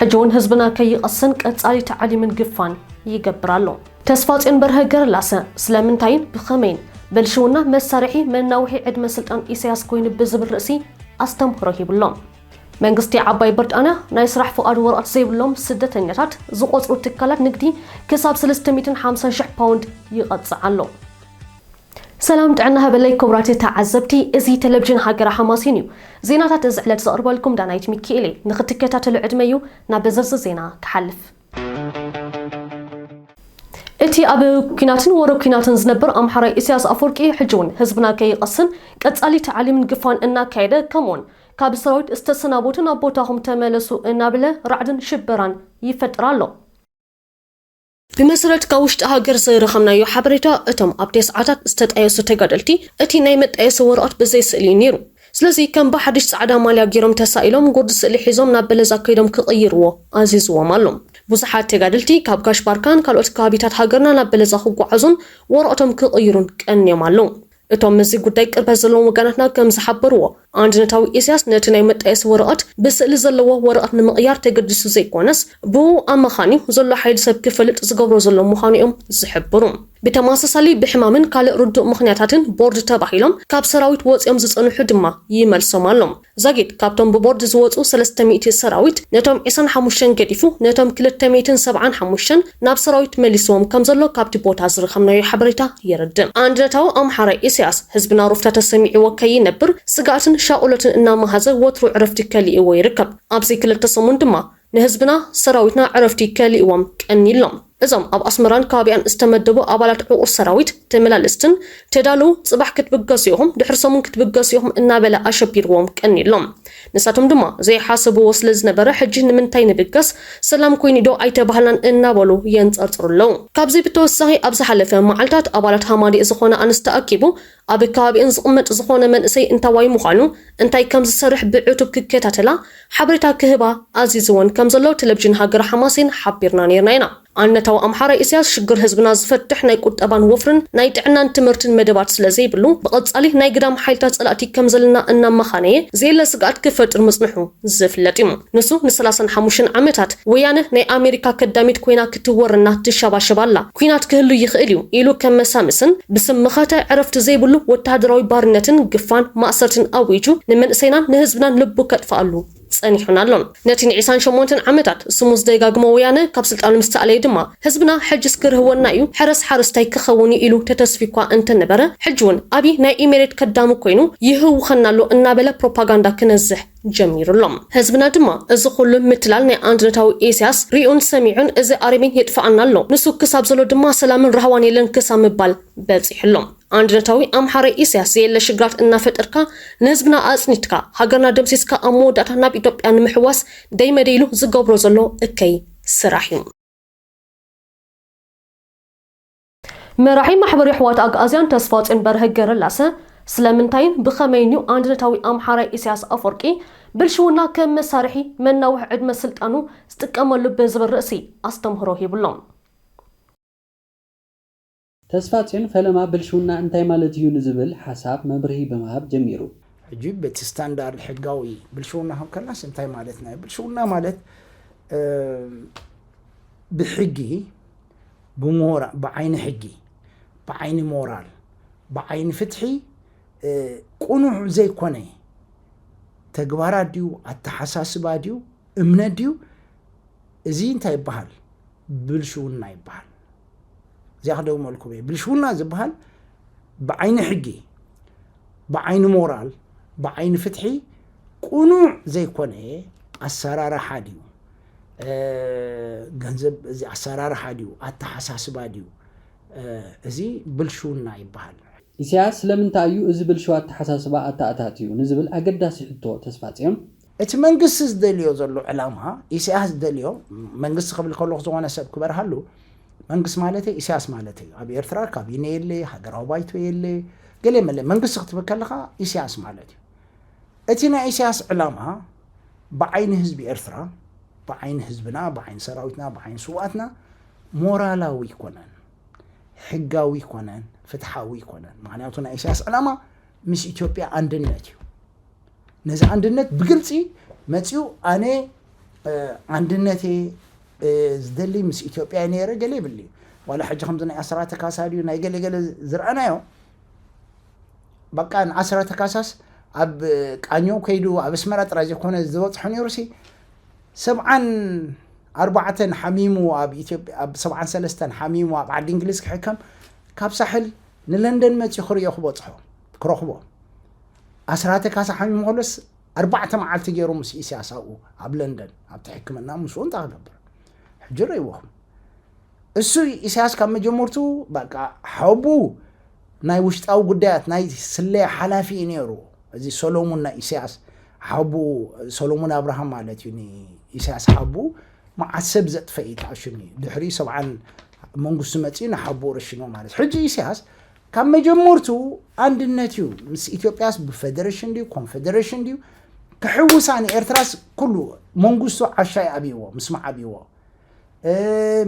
ሕጂ ውን ህዝብና ከይቐስን ቀጻሊ ታዕሊምን ግፋን ይገብር ኣሎ። ተስፋጽዮን በርሀ ገረላሰ፣ ስለምንታይን ብኸመይን ብልሽውና መሳርሒ መናውሒ ዕድመ ስልጣን ኢሰያስ ኮይኑ ብዝብል ርእሲ ኣስተምህሮ ሂቡ ኣሎ። መንግስቲ ዓባይ ብርጣንያ ናይ ስራሕ ፍቓድ ወረቐት ዘይብሎም ስደተኛታት ዝቖጽሩ ትካላት ንግዲ ክሳብ ስልስተ ሚእትን ሓምሳን ሽሕ ፓውንድ ይቐጽዕ ኣሎ። ሰላም ጥዕና ሃበለይ ክቡራት ተዓዘብቲ እዚ ተለቭዥን ሃገረ ሓማሴን እዩ ዜናታት እዚ ዕለት ዘቕርበልኩም ዳናይት ሚኪኤል እየ ንኽትከታተሉ ዕድመዩ ናብ ዝርዝር ዜና ክሓልፍ እቲ ኣብ ኩናትን ወረ ኩናትን ዝነብር ኣምሓራይ ኢሳያስ ኣፈወርቂ ሕጂ እውን ህዝብና ከይቐስን ቀጻሊ ታዕሊምን ግፋን እናካየደ ከምኡውን ካብ ሰራዊት ዝተሰናበቱ ናብ ቦታኹም ተመለሱ እናብለ ራዕድን ሽበራን ይፈጥር ኣሎ። ብመሰረት ካብ ውሽጢ ሃገር ዝረኸብናዮ ሓበሬታ፣ እቶም ኣብቲ ሰዓታት ዝተጣየሱ ተጋደልቲ፣ እቲ ናይ መጣየሲ ወረቐት ብዘይ ስእሊ እዩ ነይሩ። ስለዚ ከም ብሓድሽ ጻዕዳ ማልያ ገይሮም ተሳኢሎም ጉርዲ ስእሊ ሒዞም ናብ በለዛ ከይዶም ክቕይርዎ ኣዚዝዎም ኣሎ። ብዙሓት ተጋደልቲ ካብ ጋሽ ባርካን ካልኦት ከባቢታት ሃገርና ናብ በለዛ ክጓዓዙን ወረቕቶም ክቕይሩን ቀንዮም ኣለዉ። እቶም ምስዚ ጉዳይ ቅርበት ዘለዎም ወገናትና ከም ዝሓበርዎ፣ ኣንድነታዊ ኢሳያስ ነቲ ናይ መጣየሲ ወረቐት ብስእሊ ዘለዎ ወረቐት ንምቕያር ተገዲሱ ዘይኮነስ፣ ብእኡ ኣማኻንዩ ዘሎ ሓይሊ ሰብ ክፈልጥ ዝገብሮ ዘሎ ምዃኑ እዮም ዝሕብሩ። ብተመሳሳሊ ብሕማምን ካልእ ርዱእ ምኽንያታትን ቦርድ ተባሂሎም ካብ ሰራዊት ወጺኦም ዝጸንሑ ድማ ይመልሶም ኣሎ። ዛጊት ካብቶም ብቦርድ ዝወጹ ሰለስተ ሚእቲ ሰራዊት ነቶም ዒስራን ሓሙሽተን ገዲፉ ነቶም ክልተ ሚእትን ሰብዓን ሓሙሽተን ናብ ሰራዊት መሊስዎም ከምዘሎ ካብቲ ቦታ ዝረኸብናዮ ሓበሬታ የረድእ። ኣንድነታዊ ኣምሓራይ ኢሰያስ ህዝብና ሩፍታ ተሰሚዕዎ ከይነብር ስግኣትን ሻቁሎትን እናመሃዘ ወትሩ ዕረፍቲ ከሊእዎ ይርከብ። ኣብዚ ክልተ ሰሙን ድማ ንህዝብና ሰራዊትና ዕረፍቲ ከሊእዎም ቀኒሎም እዞም ኣብ ኣስመራን ከባቢኣን ዝተመደቡ ኣባላት ዕቑር ሰራዊት ተመላለስትን ተዳልው ጽባሕ ክትብገሱ ኢኹም ድሕሪ ሰሙን ክትብገሱ ኢኹም እናበለ ኣሸቢርዎም ቀኒሎም ንሳቶም ድማ ዘይሓሰብዎ ስለ ዝነበረ ሕጂ ንምንታይ ንብገስ ሰላም ኮይኑዶ ኣይተባህልናን እናበሉ የንጸርጽሩ ኣለዉ ካብዚ ብተወሳኺ ኣብ ዝሓለፈ መዓልታት ኣባላት ሃማዲእ ዝኾና ኣንስቲ ኣኪቡ ኣብ ከባቢኤን ዝቕመጥ ዝኾነ መንእሰይ እንታዋይ ምዃኑ፣ እንታይ ከም ዝሰርሕ ብዕቱብ ክከታተላ ሓበሬታ ክህባ ኣዚዝወን ከም ዘሎ ቴለቪዥን ሃገረ ሓማሴን ሓቢርና ኔርና ኢና። ኣንነታዊ ኣምሓራይ ኢሰያስ ሽግር ህዝብና ዝፈትሕ ናይ ቁጠባን ወፍርን ናይ ጥዕናን ትምህርትን መደባት ስለ ዘይብሉ ብቐጻሊ ናይ ግዳም ሓይልታት ጸላእቲ ከም ዘለና እናመኻነየ ዘየለ ስግኣት ክፈጥር ምጽንሑ ዝፍለጥ እዩ። ንሱ ንሰላሳን ሓሙሽተን ዓመታት ወያነ ናይ ኣሜሪካ ከዳሚት ኮይና ክትወረና ትሸባሸብ ኣላ፣ ኲናት ክህሉ ይኽእል እዩ ኢሉ ከም መሳምስን ብስም መኸተ ዕረፍቲ ዘይብሉ ወተሃደራዊ ባርነትን ግፋን ማእሰርትን ኣዊጁ ንመንእሰይናን ንህዝብናን ልቡ ከጥፍኣሉ ጸኒሑን ኣሎን። ነቲ ንዒስራን ሸሞንተን ዓመታት ስሙ ዝደጋግሞ ወያነ ካብ ስልጣኑ ምስ ተኣለየ ድማ፣ ህዝብና ሕጅስ ክርህወና እዩ ሕረስ ሓረስታይ ክኸውን እዩ ኢሉ ተተስፍዩኳ እንተነበረ ሕጅውን ኣብይ ናይ ኢሜሬት ከዳሚ ኮይኑ ይህውኸና ኣሎ እናበለ ፕሮፓጋንዳ ክነዝሕ ጀሚሩ ኣሎ። ህዝብና ድማ እዚ ኹሉ ምትላል ናይ ኣንድነታዊ ኢሰያስ ሪኡን ሰሚዑን እዚ ኣረሜን የጥፍኣና ኣሎ ንሱ ክሳብ ዘሎ ድማ ሰላምን ራህዋን የለን ክሳብ ምባል በጺሑ ኣሎ። ኣንድነታዊ ኣምሓራይ ኢሰያስ ዘየለ ሽግራት እናፈጠርካ ንህዝብና ኣጽኒትካ ሃገርና ደምሲስካ ኣብ መወዳእታ ናብ ኢትዮጵያ ንምሕዋስ ደይመደይ ኢሉ ዝገብሮ ዘሎ እከይ ስራሕ እዩ። መራሒ ማሕበር የሕዋት ኣግኣዝያን ተስፋጽዮን በርሀ ገረላሰ ስለምንታይን ብኸመይን እዩ ኣንድነታዊ ኣምሓራይ ኢሳያስ ኣፈወርቂ ብልሽውና ከም መሳርሒ መናውሒ ዕድመ ስልጣኑ ዝጥቀመሉ ብዝብል ርእሲ ኣስተምህሮ ሂቡሎም። ተስፋጽዮን ፈለማ ብልሽውና እንታይ ማለት እዩ ንዝብል ሓሳብ መብርሂ ብምሃብ ጀሚሩ። ሕጂ በቲ ስታንዳርድ ሕጋዊ ብልሽውና ክንከናስ እንታይ ማለትና እዩ? ብልሽውና ማለት ብሕጊ፣ ብሞራ፣ ብዓይኒ ሕጊ፣ ብዓይኒ ሞራል፣ ብዓይኒ ፍትሒ ቅኑዕ ዘይኮነ ተግባራት ድዩ፣ ኣተሓሳስባ ድዩ፣ እምነት ድዩ፣ እዚ እንታይ ይበሃል? ብልሽውና ይበሃል። እዚኣ ክደግመልኩም እየ ብልሽውና ዝበሃል ብዓይኒ ሕጊ ብዓይኒ ሞራል ብዓይኒ ፍትሒ ቁኑዕ ዘይኮነ ኣሰራርሓ ድዩ ገንዘብ እዚ ኣሰራርሓ ድዩ ኣተሓሳስባ ድዩ እዚ ብልሽውና ይበሃል ኢሳያስ ስለምንታይ እዩ እዚ ብልሽው ኣተሓሳስባ ኣተኣታትዩ ንዝብል ኣገዳሲ ሕቶ ተስፋጽዮን፣ እቲ መንግስቲ ዝደልዮ ዘሎ ዕላማ ኢሳያስ ዝደልዮ መንግስቲ ክብል ከለኹ ዝኾነ ሰብ ክበርሃሉ መንግስቲ ማለተይ ኢሳያስ ማለተይ እዩ ኣብ ኤርትራ ካቢኔ የለ ሃገራዊ ባይቶ የለ ገለ መለ መንግስቲ ክትብል ከለኻ ኢሳያስ ማለት እዩ እቲ ናይ ኢሳያስ ዕላማ ብዓይኒ ህዝቢ ኤርትራ ብዓይኒ ህዝብና ብዓይኒ ሰራዊትና ብዓይኒ ስውኣትና ሞራላዊ ኣይኮነን። ሕጋዊ ኣይኮነን፣ ፍትሓዊ ኣይኮነን። ምክንያቱ ናይ ኢሳያስ ዕላማ ምስ ኢትዮጵያ ኣንድነት እዩ። ነዚ ኣንድነት ብግልፂ መፅኡ ኣነ ኣንድነቴ ዝደሊ ምስ ኢትዮጵያ ነይረ ገለ ይብል እዩ። ዋላ ሕጂ ከምዚ ናይ ኣስራተ ካሳ ድዩ ናይ ገለ ገለ ዝረኣናዮ በቃ ንኣስራተ ካሳስ ኣብ ቃኘው ከይዱ ኣብ ኣስመራ ጥራይ ዘይኮነ ዝበፅሖ ነይሩሲ ሰብዓን ኣርባዕተን ሓሚሙ ኣብ ኢትዮጵያ ኣብ ሰብዓን ሰለስተን ሓሚሙ ኣብ ዓዲ እንግሊዝ ክሕከም ካብ ሳሕል ንለንደን መጺኡ ክርእዮ ክበጽሖ ክረኽቦ ኣስራተ ካሳ ሓሚሙ ከሎስ ኣርባዕተ መዓልቲ ገይሩ ምስ ኢስያስ ኣብኡ ኣብ ለንደን ኣብቲ ሕክምና ምስኡ እንታይ ክገብር ሕጂ ረይዎኹም እሱ ኢሳያስ ካብ መጀመርትኡ በቃ ሓቡ ናይ ውሽጣዊ ጉዳያት ናይ ስለያ ሓላፊ እዩ ነይሩ። እዚ ሰሎሙን ናይ ኢሳያስ ሓቡ ሰሎሙን ኣብርሃም ማለት እዩ ንኢሳያስ ሓቡ መዓት ሰብ ዘጥፈ እዩ ተኣሽኒ ድሕሪ ሰብዓን መንግስቱ መፅኡ ንሓቡ ረሽኖ ማለት ሕጂ ኢሳያስ ካብ መጀመርቱ ኣንድነት እዩ ምስ ኢትዮጵያስ ብፌደሬሽን ድዩ ኮንፌደሬሽን ድዩ ክሕውሳ ንኤርትራስ ኩሉ መንግስቱ ዓሻ ይኣብይዎ ምስ መዓብይዎ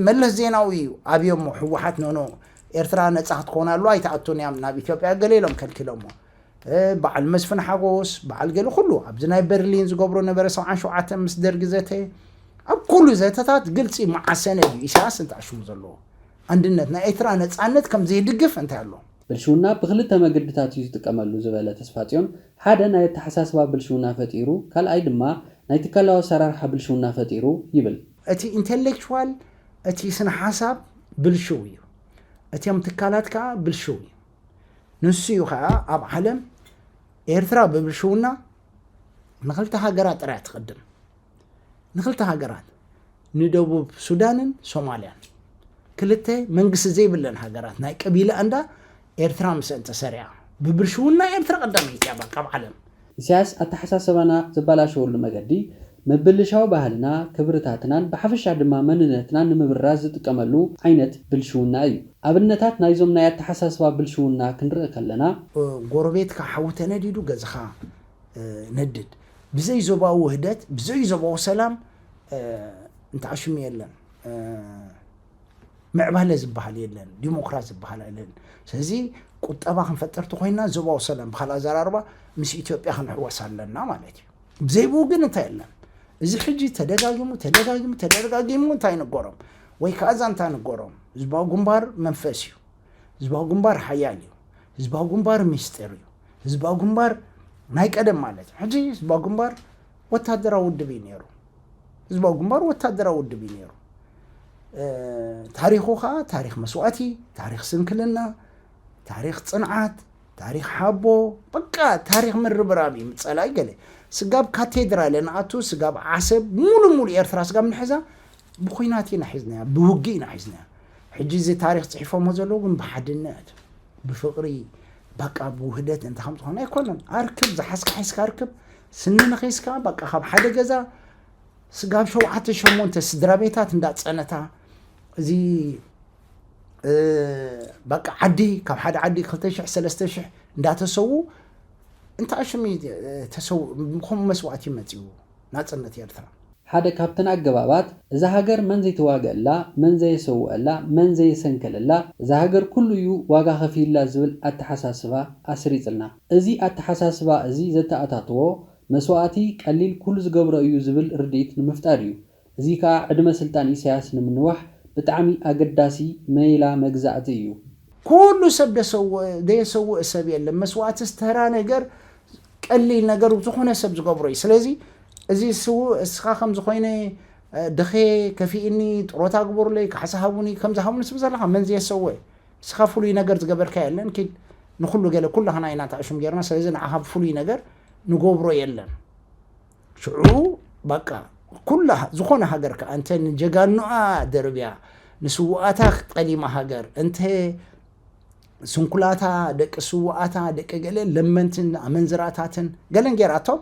መለስ ዜናዊ እዩ ኣብዮሞ ህወሓት ኖኖ ኤርትራ ነፃ ክትኮን ኣሉ ኣይትኣቱን እያም ናብ ኢትዮጵያ ገለ ኢሎም ከልኪሎሞ በዓል መስፍን ሓጎስ በዓል ገለ ኩሉ ኣብዚ ናይ በርሊን ዝገብሮ ነበረ ሰብዓን ሸውዓተ ምስ ደርጊ ዘተ ኣብ ኩሉ ዘተታት ግልፂ መዓሰነ እዩ ኢሳያስ እንተኣሽሙ ዘለዎ ኣንድነት ናይ ኤርትራ ነፃነት ከም ዘይድግፍ እንታይ ኣሎ ብልሽውና ብኽልተ መግድታት እዩ ዝጥቀመሉ ዝበለ ተስፋጽዮን፣ ሓደ ናይ ኣተሓሳስባ ብልሽውና ፈጢሩ፣ ካልኣይ ድማ ናይ ትካላዊ ኣሰራርሓ ብልሽውና ፈጢሩ ይብል። እቲ ኢንተሌክቹዋል፣ እቲ ስነ ሓሳብ፣ ብልሽው እዩ። እቶም ትካላት ከኣ ብልሽው እዩ። ንሱ እዩ ከኣ ኣብ ዓለም ኤርትራ ብብልሽውና ንኽልተ ሃገራት ጥራይ ትቕድም። ንክልተ ሃገራት ንደቡብ ሱዳንን ሶማልያን ክልተ መንግስቲ ዘይብለን ሃገራት ናይ ቀቢላ እንዳ ኤርትራ ምስአን ተሰሪዓ ብብልሽውና ኤርትራ ቀዳመይቲ እያ ባቃ ኣብ ዓለም። ኢሳያስ ኣተሓሳሰባና ዘባላሸወሉ መገዲ ምብልሻው ባህልና ክብርታትናን ብሓፈሻ ድማ መንነትናን ንምብራዝ ዝጥቀመሉ ዓይነት ብልሽውና እዩ። ኣብነታት ናይዞም ናይ ኣተሓሳስባ ብልሽውና ክንርኢ ከለና። ጎረቤትካ ሓዊ ተነዲዱ ገዝኻ ነድድ። ብዘይ ዞባዊ ውህደት ብዘይ ዞባዊ ሰላም እንተዓ ሽሙ የለን ምዕባለ ዝበሃል የለን ዲሞክራሲ ዝበሃል የለን ስለዚ ቁጠባ ክንፈጥር ተኮይና ዞባዊ ሰላም ብካልእ ኣዘራርባ ምስ ኢትዮጵያ ክንሕወስ ኣለና ማለት እዩ ብዘይብኡ ግን እንታይ የለን እዚ ሕጂ ተደጋጊሙ ተደጋጊሙ ተደጋጊሙ እንታይ ንገሮም ወይ ከዓ ዛንታ ንገሮም ህዝባዊ ግንባር መንፈስ እዩ ህዝባዊ ግንባር ሓያል እዩ ህዝባዊ ግንባር ሚስጢር እዩ ህዝባዊ ግንባር ናይ ቀደም ማለት እዩ ሕጂ ህዝባዊ ግንባር ወታደራዊ ውድብ እዩ ነይሩ ህዝባዊ ግንባር ወታደራዊ ውድብ እዩ ነይሩ ታሪኹ ከዓ ታሪክ መስዋእቲ ታሪክ ስንክልና ታሪክ ፅንዓት ታሪክ ሓቦ በቃ ታሪክ ምርብራብ እዩ ምፀላይ ገለ ስጋብ ካቴድራለ ንኣቱ ስጋብ ዓሰብ ሙሉ ሙሉ ኤርትራ ስጋብ ንሕዛ ብኩናት ኢና ሒዝናያ ብውግእ ኢና ሒዝናያ ሕጂ እዚ ታሪኽ ጽሒፎሞ ዘለዉ ግን ብሓድነት ብፍቕሪ በቃ ብውህደት እንተ ከም ዝኾነ ኣይኮነን ኣርክብ ዝሓዝካ ሓዝካ ኣርክብ ስኒ ንኺስካ በቃ ካብ ሓደ ገዛ ስጋብ ሸውዓተ ሸሞንተ ስድራ ቤታት እንዳጸነታ እዚ በቃ ዓዲ ካብ ሓደ ዓዲ ክልተ ሽሕ ሰለስተ ሽሕ እንዳተሰዉ እንታይ ሽም ተሰው ከምኡ መስዋእቲ መፅኡ ናጽነት ኤርትራ። ሓደ ካብተን ኣገባባት፣ እዛ ሃገር መን ዘይተዋግኣላ፣ መን ዘየሰውኣላ፣ መን ዘየሰንከለላ፣ እዛ ሃገር ኩሉ እዩ ዋጋ ከፊሉላ ዝብል ኣተሓሳስባ ኣስሪጽልና። እዚ ኣተሓሳስባ እዚ ዘተኣታተዎ፣ መስዋእቲ ቀሊል ኩሉ ዝገብሮ እዩ ዝብል ርድኢት ንምፍጣር እዩ። እዚ ከኣ ዕድመ ስልጣን ኢሳያስ ንምንዋሕ ብጣዕሚ ኣገዳሲ መይላ መግዛእቲ እዩ። ኩሉ ሰብ ደሰውእ ደየሰውእ ሰብ የለን መስዋእትስ ተራ ነገር ቀሊል ነገር ዝኮነ ሰብ ዝገብሮ እዩ ስለዚ እዚ ስውእ እስካ ከምዚ ኮይነ ድክየ ከፊእኒ ጥሮታ ግበሩለይ ካሕሳ ሃቡኒ ከምዚ ሃቡኒ ትብል ዘለካ መን ዘየሰውእ እስካ ፍሉይ ነገር ዝገበርካ የለን ኪድ ንኩሉ ገለ ኩላክና ኢና ተዕሹም ገርና ስለዚ ንዓካ ፍሉይ ነገር ንገብሮ የለን። ሽዑ ባቃ ኩላ ዝኾነ ሃገር ከኣ እንተ ንጀጋኑኣ ደርብያ ንስውኣታ ጠሊማ ሃገር እንተ ስንኩላታ ደቂ ስውኣታ ደቂ ገለ ለመንትን ኣመንዝራታትን ገለን ጌራቶም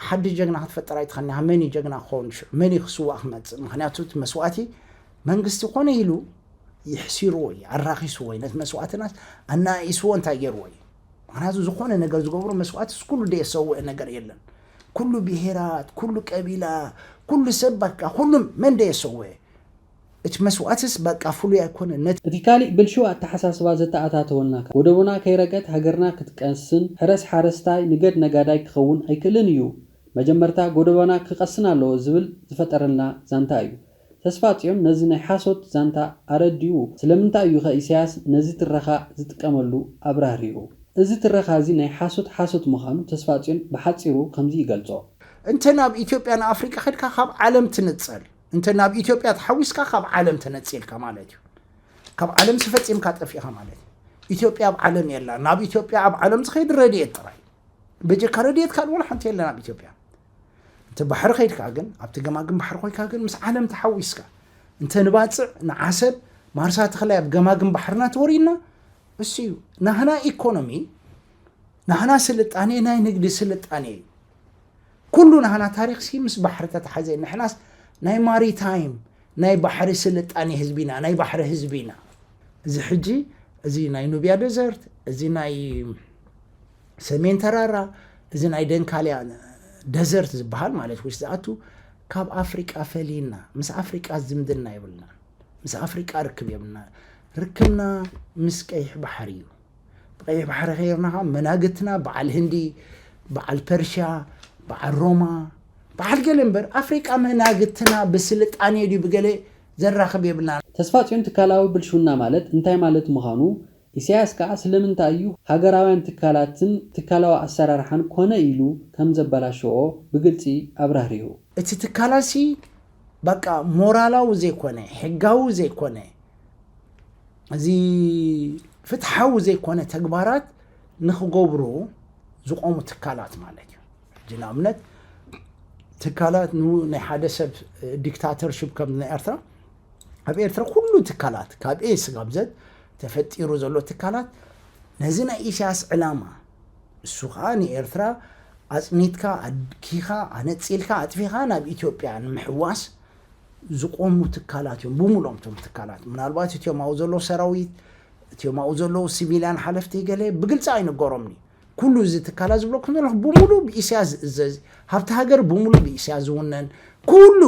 ሓድሽ ጀግና ክትፈጥር ኣይትኸኒ መን እዩ ጀግና ክኸውን ሽዑ መን እዩ ክስዋእ ክመፅእ ምክንያቱ እቲ መስዋእቲ መንግስቲ ኮነ ኢሉ ይሕሲርዎ እዩ ኣራኺስዎ እዩ ነቲ መስዋእትናስ ኣናኢስዎ እንታይ ገይርዎ እዩ ምክንያቱ ዝኾነ ነገር ዝገብሩ መስዋእትስ ኩሉ ደየሰውእ ነገር የለን ኩሉ ብሄራት ኩሉ ቀቢላ ኩሉ ሰብ በቃ ኩሉም መን ደየሰውእ እቲ መስዋእትስ በቃ ፍሉይ ኣይኮነ ነቲ እቲ ካሊእ ብልሽው ኣተሓሳስባ ዘተኣታተወና ከ ወደቡና ከይረገት ሃገርና ክትቀንስን ሕረስ ሓረስታይ ንገድ ነጋዳይ ክኸውን ኣይክእልን እዩ መጀመርታ ጎደቦና ክቀስን ኣለዎ ዝብል ዝፈጠረልና ዛንታ እዩ ተስፋጽዮን ነዚ ናይ ሓሶት ዛንታ ኣረዲኡ። ስለምንታይ እዩኸ ኢሳያስ ነዚ ትረኻ ዝጥቀመሉ ኣብራህሪሁ። እዚ ትረኻዚ ናይ ሓሶት ሓሶት ምኻኑ ተስፋጽዮን ብሓጺሩ ከምዚ ይገልጾ። እንተ ናብ ኢትዮጵያ ንኣፍሪቃ ከድካ ካብ ዓለም ትንጸል እንተ ናብ ኢትዮጵያ ተሓዊስካ ካብ ዓለም ተነጺልካ ማለት እዩ ካብ ዓለምሲ ፈጺምካ ጠፊእኻ ማለት እዩ ኢትዮጵያ ኣብ ዓለም የላን ናብ ኢትዮጵያ ኣብ ዓለም ዝኸይድ ረድኤት ጥራይ እዩ በጀካ ረድኤት ካልእ ዋላ ሓንቲ የለን ኣብ ኢትዮጵያ። እንተ ባሕሪ ከይድካ ግን ኣብቲ ገማግም ባሕሪ ኮይካ ግን ምስ ዓለም ተሓዊስካ እንተ ንባፅዕ ንዓሰብ ማርሳ ተኽላይ ኣብ ገማግም ባሕርና ተወሪድና እሱ እዩ ናህና ኢኮኖሚ ናህና ስልጣኔ ናይ ንግዲ ስልጣኔ እዩ ኩሉ ናህና ታሪክ ሲ ምስ ባሕሪ ተተሓዘ ንሕናስ ናይ ማሪታይም ናይ ባሕሪ ስልጣኔ ህዝቢ ኢና ናይ ባሕሪ ህዝቢ ኢና። እዚ ሕጂ እዚ ናይ ኑብያ ደዘርት እዚ ናይ ሰሜን ተራራ እዚ ናይ ደንካልያ ደዘርት ዝበሃል ማለት ውሽጢ ዝኣቱ ካብ ኣፍሪቃ ፈሊና ምስ ኣፍሪቃ ዝምድና የብልናን ምስ ኣፍሪቃ ርክብ የብልና ርክብና ምስ ቀይሕ ባሕሪ እዩ። ብቐይሕ ባሕሪ ከይርና ከዓ መናግትና በዓል ህንዲ በዓል ፐርሽያ በዓል ሮማ በዓል ገለ እምበር ኣፍሪቃ መናግትና ብስልጣኔ ድዩ ብገለ ዘራኽብ የብልና። ተስፋጽዮን ትካላዊ ብልሽውና ማለት እንታይ ማለት ምዃኑ፣ ኢሳያስ ከኣ ስለምንታይ እዩ ሃገራውያን ትካላትን ትካላዊ ኣሰራርሓን ኮነ ኢሉ ከም ዘበላሸዎ ብግልጺ ኣብራህሪሁ። እቲ ትካላሲ ባቃ ሞራላዊ ዘይኮነ፣ ሕጋዊ ዘይኮነ፣ እዚ ፍትሓዊ ዘይኮነ ተግባራት ንክገብሩ ዝቆሙ ትካላት ማለት እዩ ሕጂ ንኣብነት ትካላት ናይ ሓደ ሰብ ዲክታተርሽፕ ከም ናይ ኤርትራ ኣብ ኤርትራ ኩሉ ትካላት ካብ ኤ ስጋብ ዘት ተፈጢሩ ዘሎ ትካላት ነዚ ናይ ኢሳያስ ዕላማ እሱ ከዓ ንኤርትራ ኣፅኒትካ ኣድኪኻ ኣነፂልካ ኣጥፊኻ ናብ ኢትዮጵያ ንምሕዋስ ዝቆሙ ትካላት እዮም ብሙሉኦም እቶም ትካላት ምናልባት እትዮም ኣብኡ ዘለዉ ሰራዊት እትዮም ኣብኡ ዘለዉ ሲቪልያን ሓለፍቲ ገለ ብግልፂ ኣይንገሮምን እዩ ኩሉ እዚ ትካላት ዝብለኩም ዘለኹ ብሙሉ ብኢሳያስ ዝእዘዝ ሃብቲ ሃገር ብሙሉ ብኢሳያስ ዝውነን ኩሉ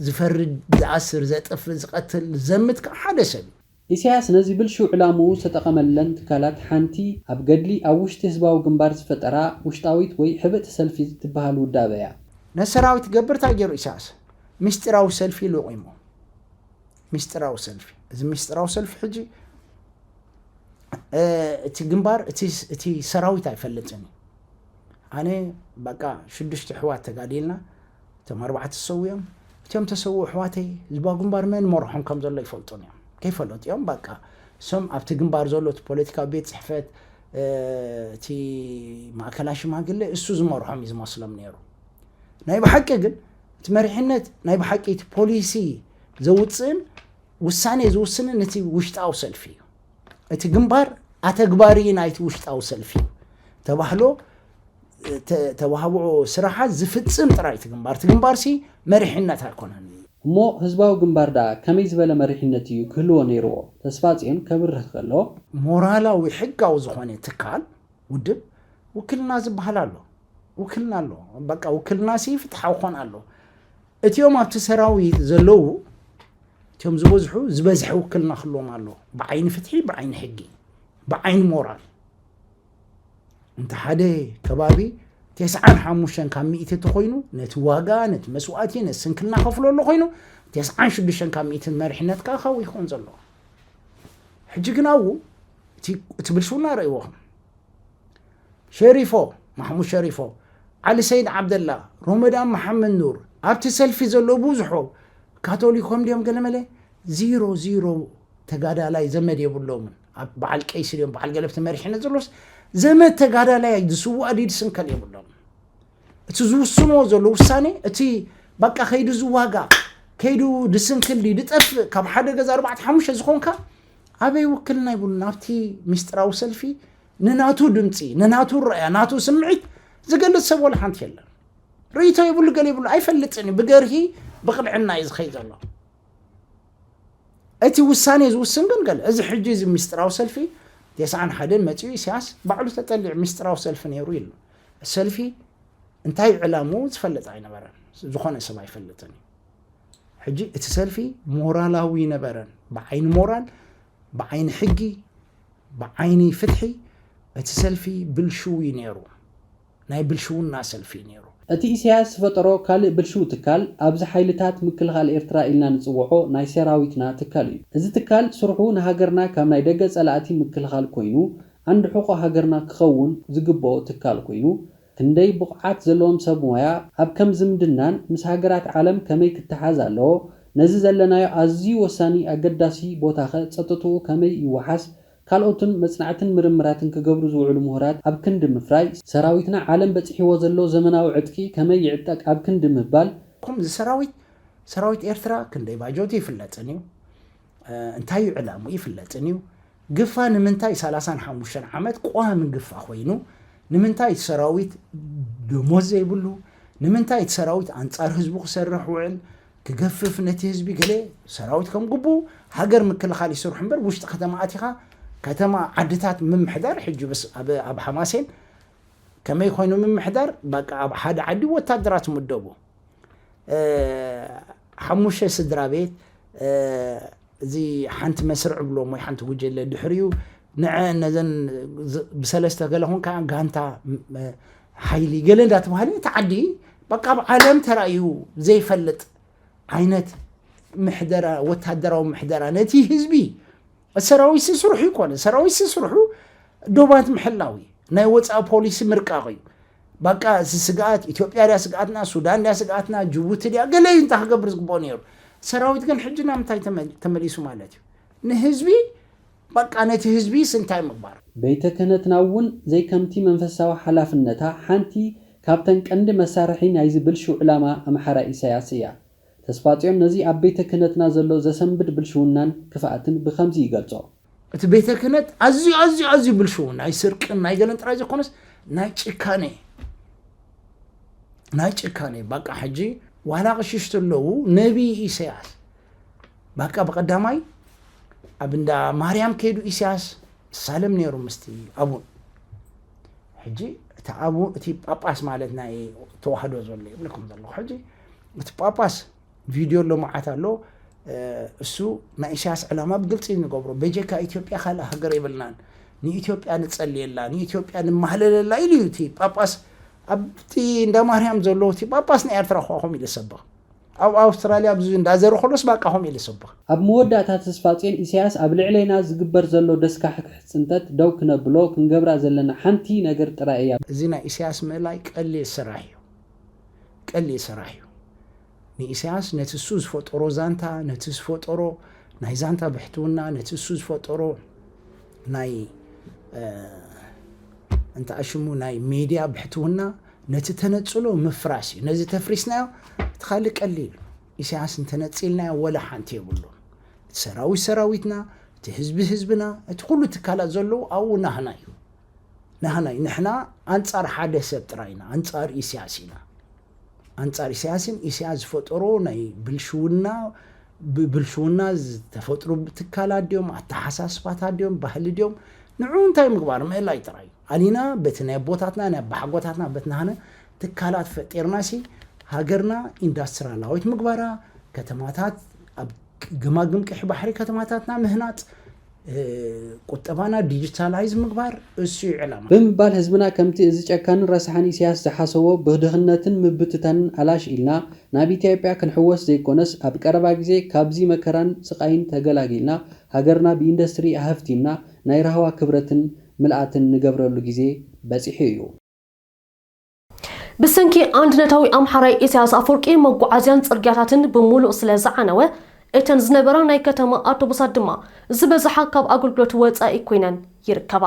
ዝፈርድ ዝኣስር ዘጥፍእ ዝቐትል ዘምት ከዓ ሓደ ሰብ እዩ ኢሳያስ ነዚ ብልሽው ዕላምኡ ዝተጠቐመለን ትካላት ሓንቲ ኣብ ገድሊ ኣብ ውሽጢ ህዝባዊ ግንባር ዝፈጠራ ውሽጣዊት ወይ ሕብእቲ ሰልፊ ትበሃል ውዳበ እያ። ነቲ ሰራዊት ክገብር ታይ ገይሩ ኢሳያስ? ሚስጢራዊ ሰልፊ ለቑሙ። ሚስጢራዊ ሰልፊ። እዚ ሚስጢራዊ ሰልፊ ሕጂ እቲ ግንባር እቲ እቲ ሰራዊት ኣይፈልጥን እዩ። ኣነ በቃ ሽዱሽተ ኣሕዋት ተጋዲልና፣ እቶም ኣርባዕተ ሰዊኦም እቶም ተሰውኡ ኣሕዋተይ ህዝባዊ ግንባር መን ይመርሖም ከም ዘሎ ይፈልጡን እዮም ከይፈለጡ እዮም ባቃ እሶም ኣብቲ ግንባር ዘሎ እቲ ፖለቲካዊ ቤት ፅሕፈት እቲ ማእከላ ሽማግለ እሱ ዝመርሖም እዩ ዝመስሎም ነይሩ ናይ ብሓቂ ግን እቲ መሪሕነት ናይ ብሓቂ እቲ ፖሊሲ ዘውፅእን ውሳኔ ዝውስንን እቲ ውሽጣዊ ሰልፊ እዩ እቲ ግንባር ኣተግባሪ ናይቲ ውሽጣዊ ሰልፊ ተባህሎ ተዋህብኦ ስራሓት ዝፍጽም ጥራይ እቲ ግንባር እቲ ግንባርሲ መሪሕነት ኣይኮነን። እሞ ህዝባዊ ግንባር ደኣ ከመይ ዝበለ መሪሕነት ኢዩ ክህልዎ ነይርዎ? ተስፋጽዮን ከብርህ ከሎ። ሞራላዊ ሕጋዊ ዝኾነ ትካል፣ ውድብ፣ ውክልና ዝበሃል ኣሎ። ውክልና ኣሎ። በቃ ውክልናሲ ፍትሓዊ ክኾን ኣለዎ። እቲኦም ኣብቲ ሰራዊ ዘለዉ እቲኦም ዝበዝሑ ዝበዝሐ ውክልና ክህልዎም ኣለዎ ብዓይኒ ፍትሒ ብዓይኒ ሕጊ ብዓይኒ ሞራል እንተ ሓደ ከባቢ ቴስዓን ሓሙሽተን ካብ ሚእቲ ተኮይኑ ነቲ ዋጋ ነቲ መስዋእቲ ነቲ ስንክልና ከፍሎ ኣሎ ኮይኑ ቴስዓን ሽዱሽተን ካብ ሚእቲ መሪሕነት ከዓ ካብኡ ይኸውን ዘሎ ሕጂ ግን ኣብኡ እቲ ብልሽውና ረእይዎኹም ሸሪፎ፣ ማሕሙድ ሸሪፎ፣ ዓሊ ሰይድ ዓብደላ፣ ሮመዳን መሓመድ ኑር፣ ኣብቲ ሰልፊ ዘሎ ብዙሑ ካቶሊኮም ድዮም ገለመለ? ዚሮ ዚሮ ተጋዳላይ ዘመድ የብሎምን። ኣብ በዓል ቀይሲ ድዮም በዓል ገለብቲ መሪሕነት ዘሎስ ዘመድ ተጋዳላይ ዝስዋእ ዲድ ስንከል የብሎም። እቲ ዝውስንዎ ዘሎ ውሳኔ እቲ በቃ ከይዱ ዝዋጋ ከይዱ ድስንክል ድዩ ድጠፍእ ካብ ሓደ ገዛ ኣርባዕተ ሓሙሽተ ዝኾንካ ኣበይ ውክልና ይብሉን ኣብቲ ሚስጥራዊ ሰልፊ ንናቱ ድምጺ፣ ንናቱ ርኣያ፣ ናቱ ስምዒት ዝገልጽ ሰብ ወላ ሓንቲ የለን። ርእይቶ የብሉ ገለ የብሉ ኣይፈልጥን እዩ። ብገርሂ ብቕንዕና እዩ ዝኸይድ ዘሎ። እቲ ውሳኔ ዝውስን ግን ገለ እዚ ሕጂ እዚ ሚስጥራዊ ሰልፊ ቴስዓን ሓደን መጺኡ ኢሳያስ ባዕሉ ተጠሊዑ ሚስጥራዊ ሰልፊ ነይሩ ኢሉ ሰልፊ እንታይ ዕላሙ ዝፈልጥ ኣይነበረን። ዝኾነ ሰብ ኣይፈልጥን እዩ ሕጂ እቲ ሰልፊ ሞራላዊ ነበረን ብዓይኒ ሞራል ብዓይኒ ሕጊ ብዓይኒ ፍትሒ እቲ ሰልፊ ብልሽው እዩ ነይሩ። ናይ ብልሽውና ሰልፊ እዩ ነይሩ። እቲ ኢሳያስ ዝፈጠሮ ካልእ ብልሽው ትካል ኣብዚ ሓይልታት ምክልኻል ኤርትራ ኢልና ንጽውዖ ናይ ሰራዊትና ትካል እዩ። እዚ ትካል ስርሑ ንሃገርና ካብ ናይ ደገ ጸላእቲ ምክልኻል ኮይኑ ዓንዲ ሕቖ ሃገርና ክኸውን ዝግብኦ ትካል ኮይኑ ክንደይ ብቑዓት ዘለዎም ሰብ ሞያ ኣብ ከም ዝምድናን ምስ ሃገራት ዓለም ከመይ ክተሓዝ ኣለዎ፣ ነዚ ዘለናዮ ኣዝዩ ወሳኒ ኣገዳሲ ቦታኸ ጸጥትኡ ከመይ ይወሓስ ካልኦትን መጽናዕትን ምርምራትን ክገብሩ ዝውዕሉ ምሁራት ኣብ ክንዲ ምፍራይ፣ ሰራዊትና ዓለም በጺሕዎ ዘሎ ዘመናዊ ዕጥቂ ከመይ ይዕጠቅ ኣብ ክንዲ ምባል፣ ከምዚ ሰራዊት ሰራዊት ኤርትራ ክንደይ ባጆት ይፍለጥን እዩ። እንታይ እዩ ዕላምኡ ይፍለጥን እዩ። ግፋ ንምንታይ ሰላሳን ሓሙሽተን ዓመት ቋሚ ግፋ ኮይኑ ንምንታይ እቲ ሰራዊት ደሞዝ ዘይብሉ ንምንታይ እቲ ሰራዊት ኣንጻር ህዝቡ ክሰርሕ ውዕል ክገፍፍ ነቲ ህዝቢ ገለ ሰራዊት ከም ግቡ ሃገር ምክልኻል ይስርሑ እምበር ውሽጢ ከተማ ኣቲኻ ከተማ ዓድታት ምምሕዳር ሕጂ ኣብ ሓማሴን ከመይ ኮይኑ ምምሕዳር በቃ ኣብ ሓደ ዓዲ ወታደራት ምደቡ ሓሙሽተ ስድራ ቤት እዚ ሓንቲ መስርዕ ብሎም ወይ ሓንቲ ጉጀለ ድሕሪኡ ንዐ ነዘን ብሰለስተ ገለ ኮንካ ጋንታ ሓይሊ ገለ እንዳተባሃለ እቲ ዓዲ በቃ ኣብ ዓለም ተራእዩ ዘይፈልጥ ዓይነት ምሕደራ ወታደራዊ ምሕደራ ነቲ ህዝቢ ሰራዊት ስስርሑ ይኮነ ሰራዊት ስስርሑ ዶባት ምሕላው እዩ ናይ ወፃኢ ፖሊሲ ምርቃቕ እዩ ባቃ እዚ ስግኣት ኢትዮጵያ ድያ ስግኣትና ሱዳን ድያ ስግኣትና ጅቡቲ ድያ ገለ እዩ እንታይ ክገብር ዝግብኦ ነይሩ ሰራዊት ግን ሕጂ ናብ ምንታይ ተመሊሱ ማለት እዩ ንህዝቢ ባቃ ነቲ ህዝቢስ እንታይ ምግባር ቤተ ክህነትና እውን ዘይከምቲ መንፈሳዊ ሓላፍነታ ሓንቲ ካብተን ቀንዲ መሳርሒ ናይዚ ብልሽው ዕላማ ኣምሓራይ ኢሳያስ እያ። ተስፋጽዮን ነዚ ኣብ ቤተ ክህነትና ዘሎ ዘሰንብድ ብልሽውናን ክፍኣትን ብኸምዚ ይገልጾ። እቲ ቤተ ክህነት ኣዝዩ ኣዝዩ ኣዝዩ ብልሽውን ናይ ስርቅን ናይ ገለን ጥራይ ዘይኮነስ ናይ ጭካኔ ናይ ጭካኔ ባቃ ሕጂ ዋላ ቅሽሽ ተለዉ ነቢይ ኢሳያስ ባቃ ብቀዳማይ ኣብ እንዳ ማርያም ከይዱ ኢሳያስ ይሳለም ነይሩ ምስቲ ኣቡን ሕጂ እቲ ኣቡ እቲ ጳጳስ ማለት ናይ ተዋህዶ ዘሎ ይብልኩም ዘለኹ ሕጂ እቲ ጳጳስ ቪድዮ ኣሎ መዓት ኣሎ እሱ ናይ ኢሳያስ ዕላማ ብግልፂ ንገብሮ በጀካ ኢትዮጵያ ካልእ ሃገር የብልናን ንኢትዮጵያ ንፀልየላ ንኢትዮጵያ ንማህለለላ ኢሉ እዩ እቲ ጳጳስ ኣብቲ እንዳ ማርያም ዘሎ እቲ ጳጳስ ናይ ኤርትራ ኳ ከምኡ ኢለ ሰበኽ ኣብ ኣውስትራልያ ኣብዚ እንዳዘረ ከሎስ ባቃ ከምኡ ኢለ ሰበኽ ኣብ መወዳእታ ተስፋጽዮን ኢሳያስ ኣብ ልዕሌና ዝግበር ዘሎ ደስካሕክሕ ጽንተት ደው ክነብሎ ክንገብራ ዘለና ሓንቲ ነገር ጥራይ እያ። እዚ ናይ ኢሳያስ ምእላይ ቀሊል ስራሕ እዩ። ቀሊል ሰራሕ እዩ ንኢሰያስ ነቲ እሱ ዝፈጠሮ ዛንታ ነቲ ዝፈጠሮ ናይ ዛንታ ብሕትውና ነቲ እሱ ዝፈጠሮ ናይ እንታይ ኣሽሙ ናይ ሜድያ ብሕትውና ነቲ ተነጽሎ ምፍራስ እዩ ነዚ ተፍሪስናዮ እቲ ካልእ ቀሊል ኢሳያስ እንተነጺልናዮ ወላ ሓንቲ የብሉ እቲ ሰራዊት ሰራዊትና እቲ ህዝቢ ህዝብና እቲ ኩሉ ትካላት ዘለዉ ኣብኡ ናህና እዩ ናህናይ ንሕና ኣንጻር ሓደ ሰብ ጥራይ ኢና ኣንጻር ኢስያስ ኢና ኣንጻር ኢሳያስን ኢሳያስ ዝፈጠሮ ናይ ብልሽውና ብብልሽውና ዝተፈጥሩ ትካላት ድዮም ኣተሓሳስባታት ድዮም ባህሊ ድዮም ንዑ እንታይ ምግባር ምእላይ ጥራይ ኣሊና በቲ ናይ ኣቦታትና ናይ ኣባሓጎታትና በት ናህነ ትካላት ፈጢርና ሲ ሃገርና ኢንዳስትራላዊት ምግባራ ከተማታት ኣብ ገማግም ቀይሕ ባሕሪ ከተማታትና ምህናፅ፣ ቁጠባና ዲጂታላይዝ ምግባር እሱ እዩ ዕላማና። ብምባል ህዝብና ከምቲ እዚ ጨካንን ረሳሕን ኢሳያስ ዝሓሰቦ ብድኽነትን ምብትታንን ኣላሽ ኢልና ናብ ኢትዮጵያ ክንሕወስ ዘይኮነስ ኣብ ቀረባ ግዜ ካብዚ መከራን ስቓይን ተገላጊልና ሃገርና ብኢንዱስትሪ ኣሀፍቲምና ናይ ራህዋ ክብረትን ምልኣትን ንገብረሉ ግዜ በፂሑ እዩ። ብሰንኪ ኣንድነታዊ ኣምሓራይ ኢሳያስ ኣፎርቂ መጓዓዝያን ጽርግያታትን ብሙሉእ ስለ ዝዓነወ፣ እተን ዝነበራ ናይ ከተማ ኣውቶቡሳት ድማ ዝበዝሓ ካብ ኣገልግሎት ወጻኢ ኮይነን ይርከባ።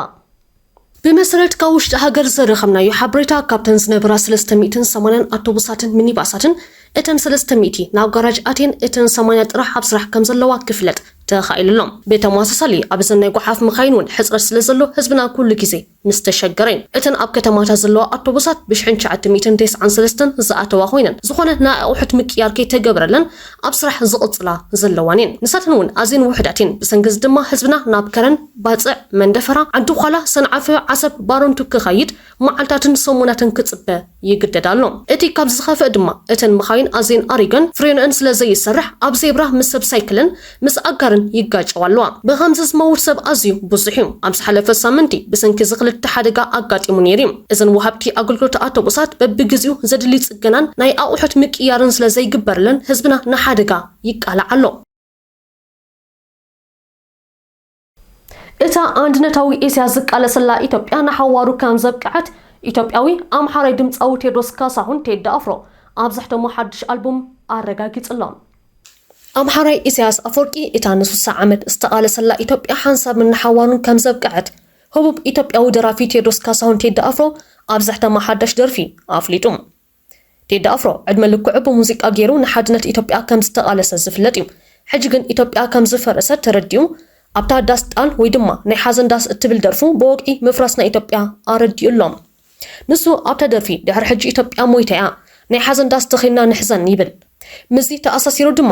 ብመሰረት ካብ ውሽጢ ሃገር ዘረከብናዮ ሓበሬታ፣ ካብተን ዝነበራ ሰለስተ ሚእትን ሰማንያን ኣውቶቡሳትን ሚኒባሳትን፣ እተን ሰለስተ ሚእቲ ናብ ጋራጅ ኣትየን እተን ሰማንያ ጥራሕ ኣብ ስራሕ ከም ዘለዋ ክፍለጥ ተኻኢሉ ኣሎ። ብተመሳሳሊ ኣብዘን ናይ ጎሓፍ መካይን እውን ሕጽረት ስለ ዘሎ ህዝብና ኩሉ ግዜ፣ ምስ ተሸገረ'የን እተን ኣብ ከተማታት ዘለዋ ኣቶቡሳት ብሽሕን ትሽዓተ ሚእትን ቴስዓን ሰለስተን ዝኣተዋ ኮይነን ዝኾነ ናይ ኣቑሑት ምቅይያር ከይተገበረለን ኣብ ስራሕ ዝቕጽላ ዘለዋን'የን። ንሳተን እውን ኣዝየን ውሑዳት'የን። ብሰንኪ'ዚ ድማ ህዝብና ናብ ከረን፣ ባጽዕ፣ መንደፈራ፣ ዓዲ ዃላ፣ ሰንዓፈ፣ ዓሰብ፣ ባረንቱ ክኸይድ መዓልታትን ሰሙናትን ክጽበ፣ ይግደድ ኣሎ። እቲ ካብዚ ዝኸፍእ ድማ እተን መኻይን ኣዝየን ኣሪገን ፍሬንኦን ስለ ዘይሰርሕ ኣብ ዜብራ ምስ ሰብ ሳይክልን ምስ ኣጋርን ይጋጨዋ ኣለዋ። ብኸምዚ ዝመውት ሰብ ኣዝዩ ብዙሕ እዩ። ኣብ ዝሓለፈ ሳምንቲ ብሰንኪ እዚ ክልተ ሓደጋ ኣጋጢሙ ነይሩ እዩ። እዘን ወሃብቲ ኣገልግሎት ኣውቶቡሳት በብግዚኡ ዘድሊ ጽገናን ናይ ኣቑሑት ምቅይያርን ስለ ዘይግበረለን ህዝብና ንሓደጋ ይቃላዕ ኣሎ። እታ ኣንድነታዊ ኤስያ ዝቃለሰላ ኢትዮጵያ ንሓዋሩ ከም ዘብቅዐት ኢትዮጵያዊ ኣምሓራይ ድምፃዊ ቴድሮስ ካሳሁን ቴዲ ኣፍሮ ኣብ ዘሕተሞ ሓድሽ ኣልቡም ኣረጋጊጹ'ሎ። ኣምሓራይ ኢሳያስ ኣፈወርቂ እታ ንሱሳ ዓመት ዝተቓለሰላ ኢትዮጵያ ሓንሳብን ንሓዋሩን ከም ዘብቅዐት ህቡብ ኢትዮጵያዊ ደራፊ ቴድሮስ ካሳሁን ቴዲ ኣፍሮ ኣብ ዘሕተማ ሓዳሽ ደርፊ ኣፍሊጡ። ቴዲ ኣፍሮ ዕድመ ልክዑ ብሙዚቃ ገይሩ ንሓድነት ኢትዮጵያ ከም ዝተቓለሰ ዝፍለጥ እዩ። ሕጂ ግን ኢትዮጵያ ከም ዝፈረሰት ተረዲኡ ኣብታ ዳስ ጣል ወይ ድማ ናይ ሓዘን ዳስ እትብል ደርፉ ብወግዒ ምፍራስ ናይ ኢትዮጵያ ኣረዲኡ ኣሎ። ንሱ ኣብታ ደርፊ ድሕሪ ሕጂ ኢትዮጵያ ሞይታ እያ፣ ናይ ሓዘን ዳስ ተኺልና ንሕዘን ይብል። ምስዚ ተኣሳሲሩ ድማ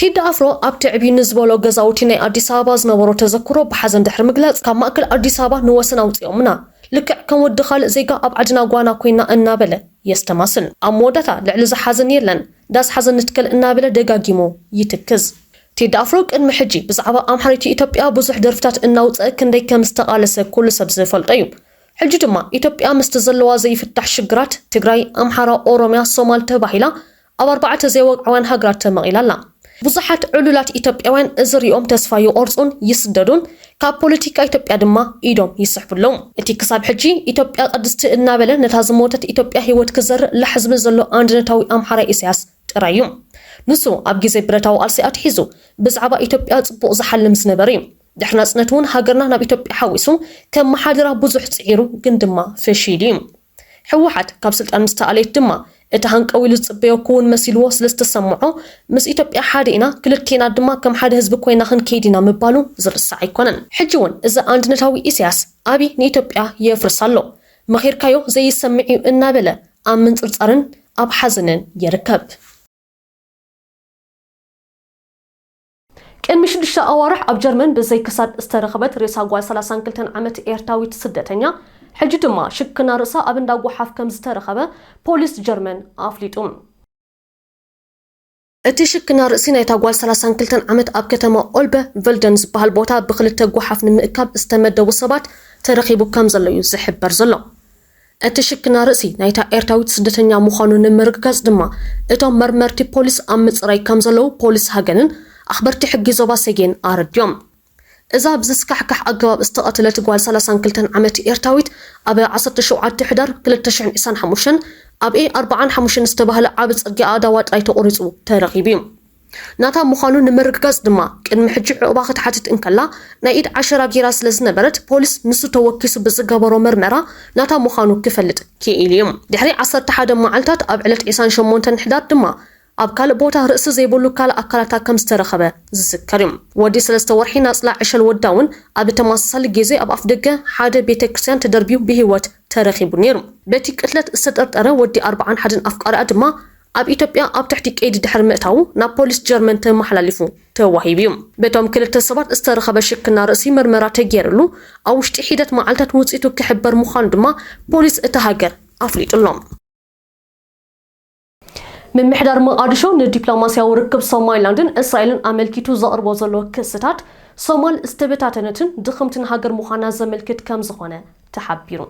ቴዲ ኣፍሮ ኣብ ትዕብ ንዝበሎ ገዛውቲ ናይ ኣዲስ ኣበባ ዝነበሮ ተዘክሮ ብሓዘን ድሕሪ ምግላፅ ካብ ማእከል ኣዲስ ኣበባ ንወሰን ኣውፂኦምና ልክዕ ከም ወዲ ካልእ ዜጋ ኣብ ዓድና ጓና ኮይና እናበለ የስተማስል። ኣብ መወዳእታ ልዕሊ እዚ ሓዘን የለን ዳስ ሓዘን ንትከል እናበለ ደጋጊሙ ይትክዝ። ቴዲ ኣፍሮ ቅድሚ ሕጂ ብዛዕባ ኣምሓሪት ኢትዮጵያ ብዙሕ ደርፍታት እናውፀ ክንደይ ከም ዝተቓለሰ ኩሉ ሰብ ዝፈልጦ እዩ። ሕጂ ድማ ኢትዮጵያ ምስቲ ዘለዋ ዘይፍታሕ ሽግራት፣ ትግራይ፣ ኣምሓራ፣ ኦሮምያ፣ ሶማል ተባሂላ ኣብ ኣርባዕተ ዘይወግዓውያን ሃገራት ተመቒላ ኣላ። ብዙሓት ዕሉላት ኢትዮጵያውያን እዚ ሪኦም ተስፋ ይቖርጹን ይስደዱን፣ ካብ ፖለቲካ ኢትዮጵያ ድማ ኢዶም ይስሕቡ ኣለዉ። እቲ ክሳብ ሕጂ ኢትዮጵያ ቅድስቲ እናበለ ነታ ዝሞተት ኢትዮጵያ ህይወት ክዘርእ ላሕ ዝብል ዘሎ ኣንድነታዊ ኣምሓራይ ኢሳያስ ጥራይ እዩ። ንሱ ኣብ ግዜ ብረታዊ ቃልሲ ኣትሒዙ ብዛዕባ ኢትዮጵያ ጽቡቕ ዝሓልም ዝነበረ እዩ። ድሕሪ ናጽነት እውን ሃገርና ናብ ኢትዮጵያ ሓዊሱ ከመሓድራ ብዙሕ ጽዒሩ ግን ድማ ፈሺሉ እዩ። ህወሓት ካብ ስልጣን ምስ ተኣለየት ድማ እቲ ሃንቀው ኢሉ ዝጽበዮ ክውን መሲልዎ ስለ ዝተሰምዖ ምስ ኢትዮጵያ ሓደ ኢና ክልቴና ድማ ከም ሓደ ህዝቢ ኮይና ክንከይድ ኢና ምባሉ ዝርሳዕ ኣይኮነን። ሕጂ እውን እዚ ኣንድነታዊ ኢሳያስ ኣብይ ንኢትዮጵያ የፍርሳ ኣሎ መኺርካዮ ዘይሰምዕ እዩ እናበለ ኣብ ምንጽርጻርን ኣብ ሓዘንን ይርከብ። ቅድሚ ሽዱሽተ ኣዋርሕ ኣብ ጀርመን ብዘይ ክሳድ ዝተረኽበት ሬሳ ጓል ሰላሳን ክልተን ዓመት ኤርትራዊት ስደተኛ ሕጂ ድማ ሽክና ርእሳ ኣብ እንዳ ጎሓፍ ከምዝተረኸበ ፖሊስ ጀርመን ኣፍሊጡ። እቲ ሽክና ርእሲ ናይታ ጓል ሰላሳን ክልተን ዓመት ኣብ ከተማ ኦልበ ቨልደን ዝበሃል ቦታ ብክልተ ጎሓፍ ንምእካብ ዝተመደቡ ሰባት ተረኺቡ ከምዘሎ'ዩ ዝሕበር ዘሎ። እቲ ሽክና ርእሲ ናይታ ኤርትራዊት ስደተኛ ምዃኑ ንምርግጋጽ ድማ፣ እቶም መርመርቲ ፖሊስ ኣብ ምጽራይ ከምዘለዉ ፖሊስ ሃገንን ኣኽበርቲ ሕጊ ዞባ ሰጌን ኣረዲኦም። እዛ ብዘስካሕክሕ ኣገባብ ዝተቐተለት ጓል ሰላሳን ክልተን ዓመት ኤርትራዊት፣ ኣብ ዓሰርተ ሸውዓተ ሕዳር ክልተ ሽሕን ዒስራን ሓሙሽተን ኣብ ኤ ኣርብዓን ሓሙሽተን ዝተባህለ ዓቢ ጽርግያ ኣእዳዋ ጥራይ ተቖሪጹ ተረኺቡ'ዩ። ናታ ምዃኑ ንምርግጋጽ ድማ ቅድሚ ሕጂ ዑቕባ ክትሓትት እንከላ ናይ ኢድ ዓሸራ ገይራ ስለዝነበረት ፖሊስ ንሱ ተወኪሱ ብዝገበሮ ምርመራ ናታ ምዃኑ ክፈልጥ ኪኢሉ'ዩ። ድሕሪ ዓሰርተ ሓደ መዓልታት ኣብ ዕለት ዒስራን ሸሞንተን ሕዳር ድማ ኣብ ካልእ ቦታ ርእሲ ዘይብሉ ካልእ ኣካላታ ከምዝተረኸበ ዝዝከር'ዩ። ወዲ ሰለስተ ወርሒ ናጽላ ዕሸል ወዳ'ውን ኣብ ተመሳሳሊ ጌዜ ኣብ ኣፍደገ ሓደ ቤተክርስትያን ተደርብዩ ብህይወት ተረኺቡ ነይሩ። በቲ ቅትለት ዝተጠርጠረ ወዲ ኣርብዓን ሓደን ኣፍቃሪኣ ድማ ኣብ ኢትዮጵያ ኣብ ትሕቲ ቀይዲ ድሕሪ ምእታዉ ናብ ፖሊስ ጀርመን ተመሓላሊፉ ተዋሂቡ እዩ። በቶም ክልተ ሰባት ዝተረኸበ ሽክና ርእሲ ምርመራ ተገይርሉ ኣብ ውሽጢ ሒደት መዓልታት ውፅኢቱ ክሕበር ምዃኑ ድማ ፖሊስ እታ ሃገር ኣፍሊጡ'ሎ። ምምሕዳር መቓድሾ ንዲፕሎማስያዊ ርክብ ሶማሊላንድን እስራኤልን ኣመልኪቱ ዘቕርቦ ዘሎ ክስታት፣ ሶማል ዝተበታተነትን ድኽምትን ሃገር ምዃና ዘመልክት ከምዝኾነ ተሓቢሩ።